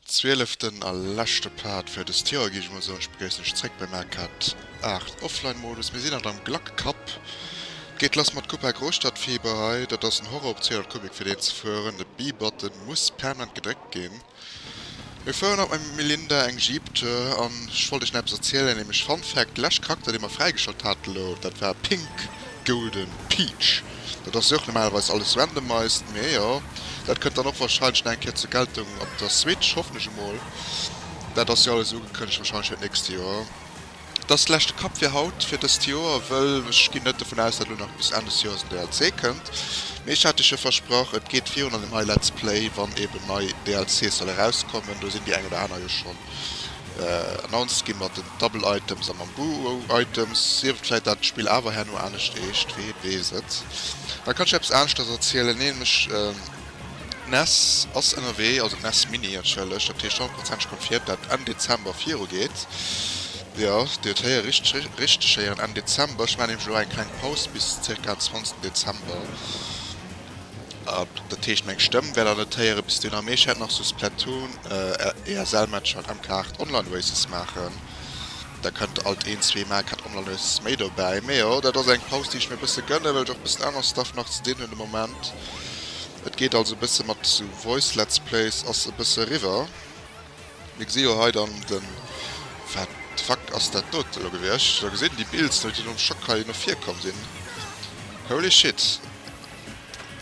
Zwieleften a leschte Part fir dëst Joer, géif ech mol soen. Ech begréissen iech zréck beim AK 8 Offline Modus. Mir sinn haut am Glac Cup. Et geet lass mat Coupe à Gros Stadtfieber hei. Dat ass en Horror op 200 Kubik fir deen ze fueren. De B-Button muss permanent gedréckt ginn. Mir fueren haut mam Melinda eng Jeep Tour an ech wollt iech nach eppes erzielen, nämlech Fun Fact, de leschte Charakter deen mer fräigeschalt haten elo, dat war Pink Golden Peach. Dat ass jo och normalerweis alles randomized, mee jo dat kënnt dann och wahrscheinlech nach eng Kéier zur Geltung op der Switch, hoffen ech emol. Dat ass jo alles ugekënnegt wahrscheinlech fir d'nächst Joer. Et ass de leschte Cup fir haut, fir dëst Joer, wëll ech ginn net dovun aus, datt elo nach bis Enn des Joers en DLC kënnt, mee ech hat iech jo versprach, et geet virun an dem hei Let's Play, wann eeben nei DLCs solle erauskommen, do sinn déi eng oder aner jo schonn announced gi mat den Double Items a mam Buo Items, sief et vläit dat d'Spill awer herno anescht eescht, wien weess et, da kann ech eppes aneschtes erzielen, nämlech. D'Ness ass ënnerwee, also d'Ness Mini entschëllegt, dat heescht 100 Prozent confirmed dat Enn Dezember viru geet. Jo, Dir huet héiere richteg héieren, Enn Dezember. Ech maachen nämlech elo eng kleng Paus bis zirka 20 Dezember. Dat heescht meng Stëmm wäert der net héieren bis dunn. A mee ech wäert nach sou Splatoon, ESL Matcher an MK8 Online Races maachen. Da kënnt alt een zwee Maal grad online e bëssen méi dobäi. Mee jo, dat ass eng Paus, déi ech mir e bësse gënne well ech och e bëssen anere Stuff nach ze dinn hunn de Moment. Et geet also e bësse mat sou Voice Let's Plays ass e bësse eriwwer. Mir gesi jo hei dann de, wat de fuck ass dat do elo gewiescht? Elo gesin déi Builds no déi no dem Schock hei no vir komm sinn. Holy shit!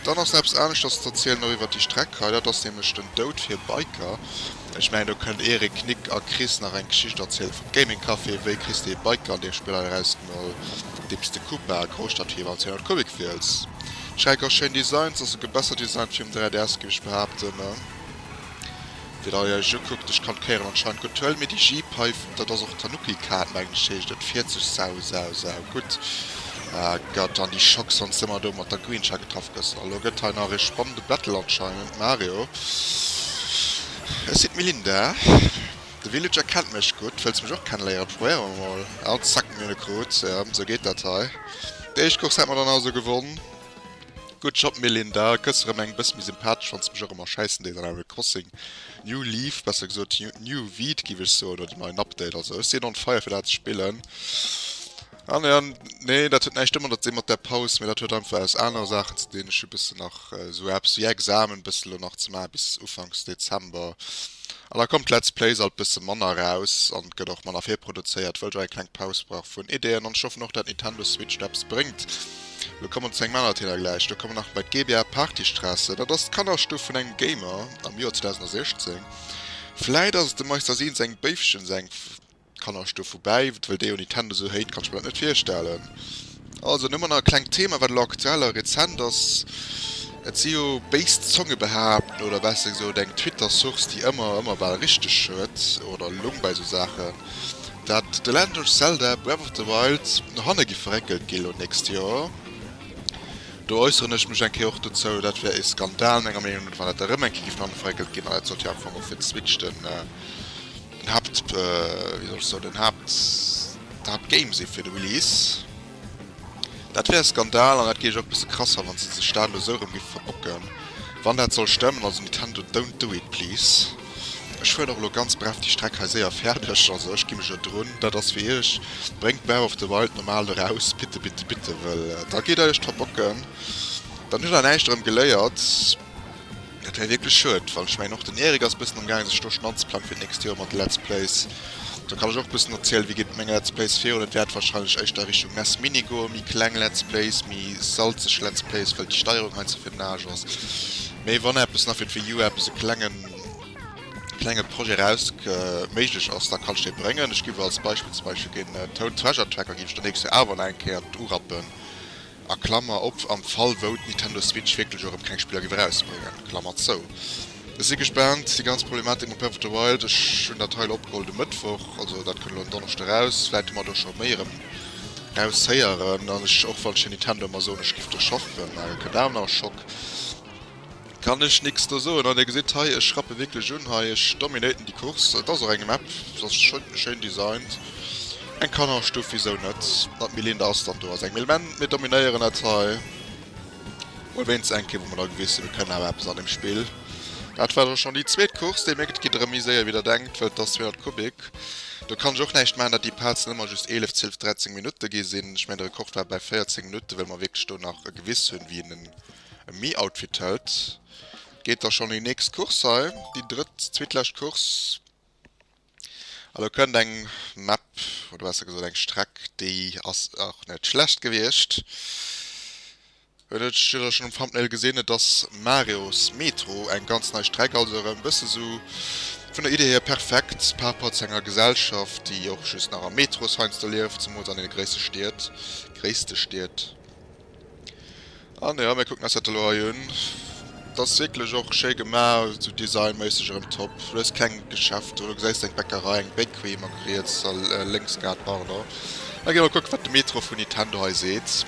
Dann ass nach eppes aneschters ze erzielen, och iwwert déi Streck hei. Dat ass nämlech den Doud fir Biker. Ech mengen, do kënnt Eric, Knick a Chris nach eng Geschicht erziele vum Gaming Café. Wéi kriss de ee Biker an deem Spill hei erausgemoll, deem s de Koopa, Grousstadtfieber an 200 Kubik wiels? Schräg ass schéin Designs, ass souguer besser designt wéi um 3DS, géif ech behaapten. Fir datt dir iech ukuckt, ech kann d'Kéieren anscheinend gutt huelen, mee déi Jeepeifen, dat ass och d'Tanuki-Kaart, mengen ech heescht et, fiert sech sau, sau, sau gutt. Gëtt an déi Schock soss ëmmer do mat der Greensha getraff gësst. A lo gëtt hei nach ee spannende Battle anscheinend, Mario, ech sinn d'Melinda, de Villager kennt mech gutt, wëlls mech och kenneléieren? Probéiere mer mol. An zack, mir hunn e krut. Sou geet dat hei. Déi éischt Course hätt mer dann also gewonn. Good job Melinda, gëss erëm eng bëss méi sympathesch fanns mech och ëmmer schäissen déi den Animal Crossing New Leaf, besser gesot New Weed giff ech soen, oder den neien Update, also ech sinn on fire fir dat ze spillen an jo nee dat huet näischt domadder ze dinn mat der Paus, mee dat huet einfach aus anere Saachen ze dinn, ech hu bëssen nach esou eppes wéi Examen bëssen elo nach ze maachen bis Ufanks Dezember an da kommt d'Let's Plays alt bësse manner raus an gëtt och manner virproduzéiert wëll ech och eng kleng Paus brauch vun Ideeën an ech hoffen och dat Nintendo Switch eppes bréngt. Lo kommen zu engem aner Thema gläich, do kommen nach bei d'GBA Partystraße, dat ass d'Kannerstuff vun engem Gamer am Joer 2016. Vläit ass et dem Meister Seen seng Béifchen seng Kannerstuff, woubäi, well déi un Nintendo esou hate, kann ech mir dat net virstellen. Also dann hu mer nach e klengt Thema, wat elo aktuell a rezent ass, et si jo béis Zonge behaapten, oder besser gesot eng Twitter-Source, déi ëmmer ëmmer bal richteg huet oder elong bei esou Saachen, dat The Legend of Zelda, Breath of the Wild no hanne gi verréckelt gi lo nächst Joer. Do äusseren ech mech eng Kéier och dozou. Dat wär ee Skandal menger Meenung no, wann dat erëm eng Kéier géif no hanne verréckelt ginn. An dat sollt jo am Fong och fir d'Switch den Haapt, wéi soll ech soen, den Haapt, d'Haaptgame si fir de Release. Dat wär e Skandal an dat géif ech och e bësse krass fannen, wann se sech dat elo esou erëm géife verbocken, wann dat soll stëmmen. Also Nintendo, don't do it please. Ech fueren och elo ganz bref déi Streck hei séier fäerdeg, also ech gi mech elo drun. Dat ass fir iech, bréngt Breath of the Wild normal eraus, bitte, bitte, bitte, wëll da geet der iech verbocken, dann hutt der näischt erëm geléiert. Et wär wierklech schued, well ech mengen och den Eric ass e bëssen amgaange sech do schonn anzeplanen fir d'nächst Joer mat Let's Plays. Do kann ech och e bëssen erzielen, wéi geet et mat menge Let's Plays virun. Et wäert wahrscheinlech éischter a Richtung nes Mini goen, méi kleng Let's Plays, méi salzeg Let's Plays, well déi Steierung hei ze fir den Aarsch ass. Mee wann eppes nach fir d'Wii U, eppes e klengen, klenge Projet eraus ke, méiglech ass, da kann ech dee bréngen. Ech giff als Beispill zum Beispill den Toad Treasure Tracker giff ech der nächst Joer awer nach eng Kéier urappen, a Klammer op, am Fall wou d'Nintendo Switch wierklech och erëm keng Spiller géif erausbréngen, Klammer zou. Ech si gespaant, déi ganz Problematik mam Breath of the Wild, ech hunn dat hei elo opgeholl de Mëttwoch, also dat kënnt elo en Donneschde eraus, vläit hu mer do scho méi erëm raushéieren, an ech, och wann ech hir Nintendo ëmmer soen, ech giff do Schock, well mär kënnt awer nach e Schock. Kann ech nix do soen an dir gesitt hei ech rappe wierklech un hei, ech dominaten déi Course. Et ass och eng Map, se ass schéin designt, eng Kannerstuff wisou net, mat méi Linde ass dann do ass eng méi men mir dominéieren dat hei mol wéinst eng Kéier wou mer da gewis sinn mir kënnen awer eppes an dem Spill. Dat war dann schonn déi zweet Course, dir mierkt et geet erëm méi séier wéi der denkt well et ass 200 Kubik, do kann ech och näischt maachen dat déi Pazen ëmmer just 11, 12, 13 Minutte gi sinn, ech mengen de Rekord war bei 14 Minutten well mer wierklech do nach gewiss hunn wien en E Me Outfit Held geet da schonn un déi nächst Course hei, déi drëtt, zweetlescht Course. An do kënnt eng Map, oder besser gesot eng Streck, déi ass och net schlecht gewiescht. Et huet jidderee schonn um Thumbnail gesinn, et ass Mario's Metro, eng ganz nei Streck, also erëm e bësse sou vun der Idee hier perfekt par rapport zu enger Gesellschaft, déi och just nach am Metro heiansdo lieft, zemools an deene gréisste Stied, gréisste Stied. An jo, mir kucken eis dat elo hei un. T'ass wierklech och schéi gema, sou designméisseg erëm top. Du hues keng Geschäfter, du gesäis eng Bäckerei, eng Bakery emmer riets a lénks grad, pardon. Da gi mer kucken, wat de Metro vun Nintendo hei seet.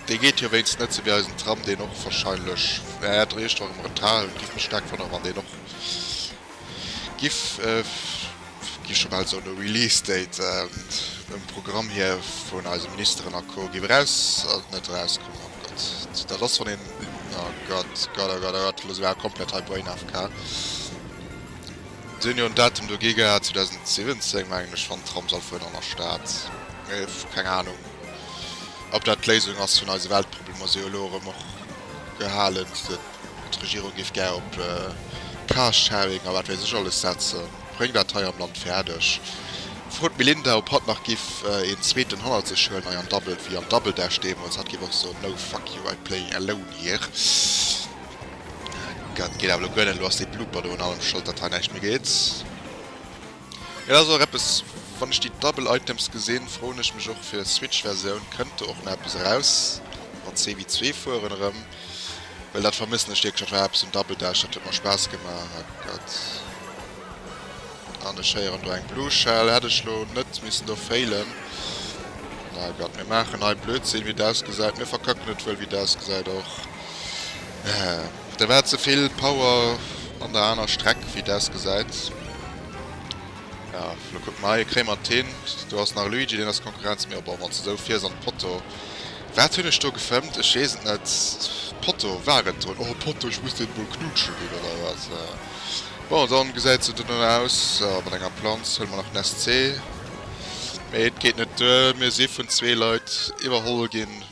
Dee geet jo wéinst net sou wéi eisen Tram, deen och warscheinlech, jo, dräi Stonne am Retard ass. Giff mech staark wonnere wann deen och. Gi scho bal soen e Release Date um Programm hier vun eise Ministeren a Co. Gi mer eraus an net eraus kommen oh Gott dat ass wann een oh Gott Gott oh Gott oh Gott loosse mer awer komplett hei Brain AFK. Si hunn jo en Datum do gi gehat 2017 mengen ech wann d'Tram soll fueren an der Stad mee keng Ahnung ob dat d'Léisung ass vun eise Weltproblemer si elo erëm och gehalen. D'Regierung géif gär op Carsharing a wat wéis ech alles setzen. Bréngt dat hei am Land fäerdeg. Frot d'Melinda, ob hatt nach giff een zweeten hannert sech huelen, hei am Dabbelt wéi am Double Dash deemools. Hatt géif och soen, No, fuck you, I play alone here. Dat geet awer elo guer net. Elo ass dee Blooper do un allem schold, datt hei näischt méi geet. Et ass och eppes, wann ech déi Double Items gesinn, froen ech mech och, fir Switch-Versioun, kënnt do och nach eppes eraus mat CW2 fueren erëm? Well dat vermëssen ech wierklech. Dat war eppes um Double Dash, dat huet mer Spaass gemaach. Oh Gott. An ech héieren do eng Blue Shell. Hätt ech elo net missen do failen. Oh Gott, mir maachen hei Blödsinn, wéi et ausgesäit. Mir verkacken et wuel, wéi et ausgesäit och. Da war ze vill Power an der aner Streck, wéi et ausgesäit. Jo, elo kucke mer hei. Kréie mer et hin? Do ass nach Luigi, deen ass Konkurrenz. Mee oh, bon, wann s de esou fiers an d'Potto. Wat hunn ech do gefëmmt? Ech weess et net. Potto war et drun. Oh e Potto, ech muss deen emol knuutschen ginn oder wat? Bon, dann gesäit se dono aus mat enger Planz. Huele mer nach den SC, mee et geet net duer. Mir si vun zwee Leit iwwerholl ginn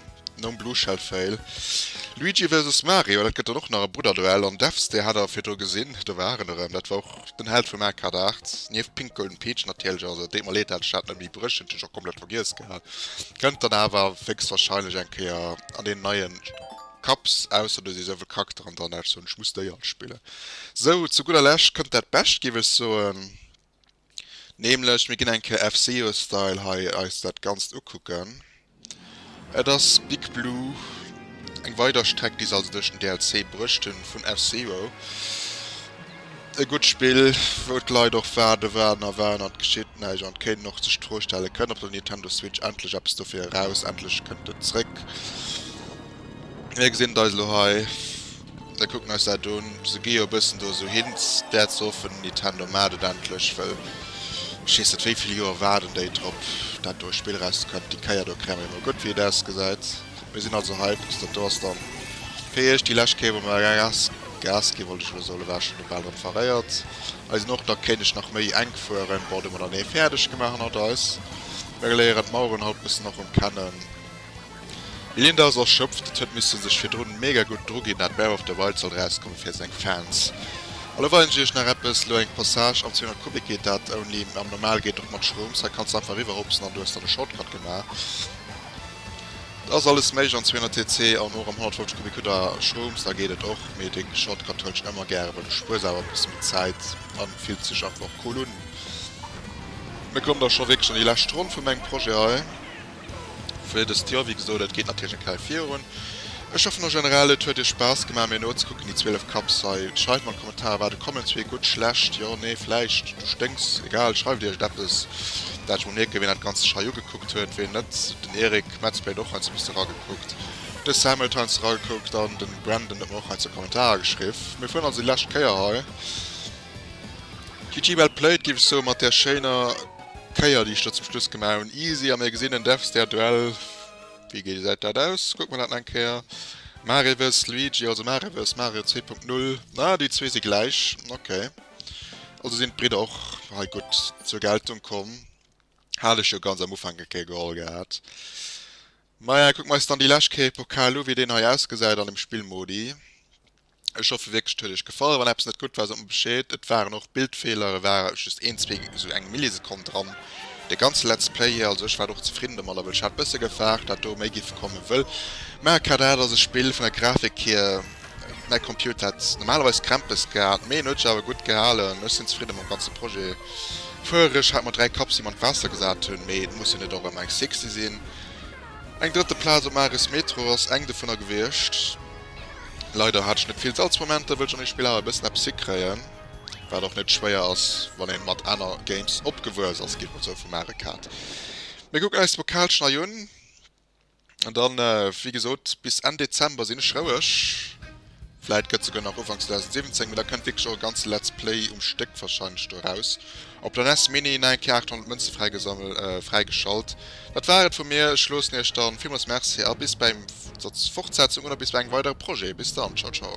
nom Blue Shell Fail. Luigi versus Mario, dat gëtt dann och nach e Brudderduell. An Devs, dee hat der virdru gesinn, do war en erëm. Dat war och den Held vum Arcade 8, nieft Pink Golden Peach natierlech. Also et deet mer leed, dat ech dat net méi bréchen, dat hunn ech och komplett vergiess gehat. Kënnt dann awer wéchstwahrscheinlech eng Kéier an een neien Kaps, ausser do si souvill Charakteren dran dat ech soen ech muss déi all spillen. Sou, zu gudder Lescht kënnt dat Bescht giff ech soen, nämlech mir ginn eng Kéier FCeoStyle hei eis dat Ganzt ukucken. Et ass Big Blue, eng weider Streck déi se also duerch den DLC bruecht hunn vun F-Zero. E gutt Spill wou d'Leit och waarde waren a waren an et geschitt näischt an et kéinten och sech d'Fro stellen, kënnt op der Nintendo Switch endlech eppes dofir eraus, endlech kënnt et zréck. Mir gesinn et eis elo hei. Da kucken eis dat un. Se gi jo e bëssen do esou hin. D'äerd ze hoffen Nintendo maacht et endlech, well ech weess net wéi vill Joer waarden déi drop dat do Spill eraus ze kréien. Déi Kéier do kréie mer jo mol gutt wéi et ausgesäit. Mir sinn also hyped. Dat do ass da fir iech déi lescht Kéier wou mer Gas Gas ginn, wollt ech elo soen. Elo war ech schonn do bal drëm verréiert. Eis sinn och da kéineg nach méi enk fueren. Bon, do hu mer dann ee fäerdeg gemaach hannert eis. Mir léieren d'Maueren haut bëssen och rëm kennen. Eleen dat ass erschöpft, et huet missen sech virdrun mega gudd dru gin dat Bear of the Wild sollt rauskommen fir seng Fans. Elo weisen ech iech nach eppes, elo eng Passage, am 200 Kubik geet dat only, mä am normal geet et och mat Schrooms, hei kanns de einfach eriwwer hopsen an du hues dann e Shortcut gemaach, dat ass alles méiglech an 200 TC an och am 150 Kubik hutt der Schrooms, da geet et och, mee dee Shortcut huelen ech emmer gären, well du spuers awer e bësse méi Zäit an fills dech einfach och cool un. Mir kommen da scho wierklech an déi lescht Ronn vu mengem Projet hei. fir dëst Joer. Wéi gesot, et geet natierlech eng Kéier virun. Ech hoffen en generell, et huet iech Spaass gemaach, mir nozekucken, déi 12 Cups hei. Schreift mer an d'Kommentare, wat et kommen ass, wéi gutt, schlecht, jo, nee, vläicht, du sténks, egal, schreift iech et eppes, dat ech mol mierken, wien dat Ganzt sech hei ugekuckt huet, wien net. Den Eric Metz Plate och heiansdo bis eragekuckt, de Sam huet heiansdo eragekuckt an de Brandon huet mer och heiansdo Kommentare geschriff. Mir fueren also déi lescht Kéier hei. GG well played, géif ech soen, mat där schéiner. Kéier déi ech do zum Schluss gemaach hunn. Easy a mir gesinn en Dev Stair Duell. Wéi gesäit dat aus? Kucke mer dat nach eng Kéier. Mareverse Luigi, also Mareverse Mario 2.0. Ah, déi zwee si gläich. Okay. Also sinn d'Bridder och hei gutt zur Geltung komm. Hat ech jo ganz am Ufank eng Kéier geholl gehat. Maja, kucke mer eis dann déi lescht Kéier e Pokal u wéi deen hei ausgesäit an dem Spillmodi. Ech hoffe wierklech et huet iech gefall. Wann eppes net gutt war sot mer bescheed. Et waren och Bildfeeler, e war just een zwee esou eng Millisekonn dran. De ganze Let's Play hir, also ech war och zefridden domadder, well ech hat bësse gefaart dat do méi géif komme wëll mä ka dat ass e Spill vun der Grafik hir. Mäi Computer hätt normalerweis Krämpes gehat mee en huet sech awer gutt gehalen. Ech sinn zefridde mam ganze Projet. Fuerereg hat mer 3 Kaps déi mer an d'Waasser gesat hunn mee et muss jo net och ëmmer eng Sixty sinn. Eng drëtte Plaz um Aris Metro ass eng dovunner gewiescht. Leider hat ech net vill Salzmomenter, wëll ech an de Spiller awer e bëssen eppes hikréien, wat och net schwéier ass, wann een mat aner Games opgewuess ass, geet mer sou, vu Mario Kart. Mir kucken eis d'Pokal schnei un, an dann, wéi gesot, bis Enn Dezember sinn ech roueg. Vläit gëtt souguer nach Ufank 2017, mee da kënnt wierklech och e ganze Let's Play um Stéck warscheinlech do eraus. Op der nes Mini nach eng Kéier 800 Mënze fräigeschalt. Dat war et vu mir, ech loossen iech dann. Villmools Merci a bis bei eng Fortsetzung oder bis bei engem weidere Projet. Bis dann, ciao ciao.